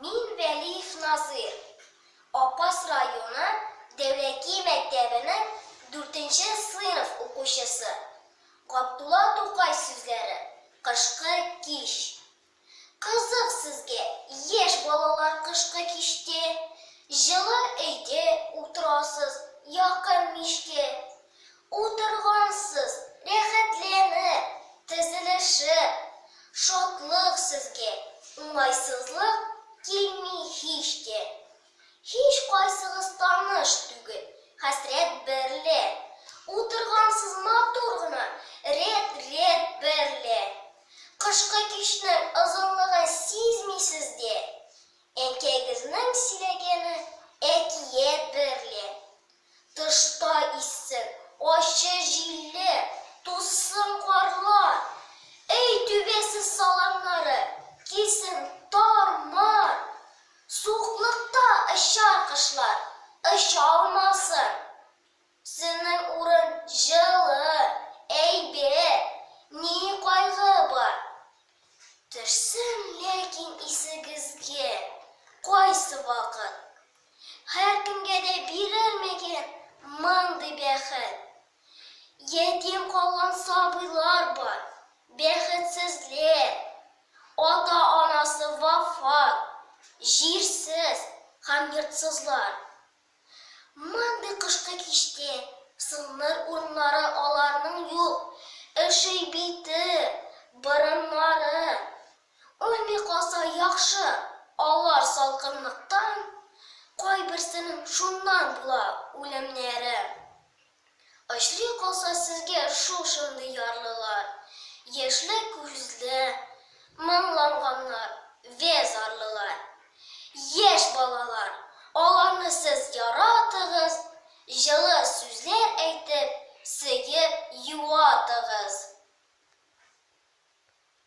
Мин Вәлиев Назыйр, Апас районы Дәүләки мәктәбенең дүртенче сыйныф укучысы. Габдулла Тукай сүзләре, Кышкы кич. Кызык сезгә, яшь балалар кышкы кичтә, җылы өйдә утырасыз, якын мичкә. Утыргансыз, рәхәтләнеп, тезелешеп. Шатлык сезгә, уңайсызлык килми һич тә. Һичкайсыгыз таныш түгел хәсрәт берлә. Утыргансыз матур гына, рәт-рәт берлә. Кышкы кичнең озынлыгын сизмисез дә. Әнкәйгезнең сөйләгәне әкият берлә. Тышта иссең, ачы җилле, Тузсын карлар. Өй түбәсе саламнары Кисен тар-мар. Суыклыкта очар кошлар, Очалмасын. Синең урын җылы, әйбәт, Ни кайгы бар? Төшсен ләкин исегезгә Кайсы вакыт. Һәркемгә дә бирелмәгән мондый бәхет. Ятим калган сабыйлар бар, бәхетсезлек, ата-анасы вафат, җирсез һәм йортсызлар. Мондый кышкы кичтә сынныр урыннары аларның юк, өши бите, борыннары, Үлми калса яхшы, алар салкынлыктан, кайберсенең шуннан була үлемнәре. Очрый калса сезгә шул шундый ярлылар, яшьле күзле, моңланганнар вә зарлылар, яшь балалар, аларны сез яратыгыз, җылы сүзләр әйтеп, сөеп, юатыгыз.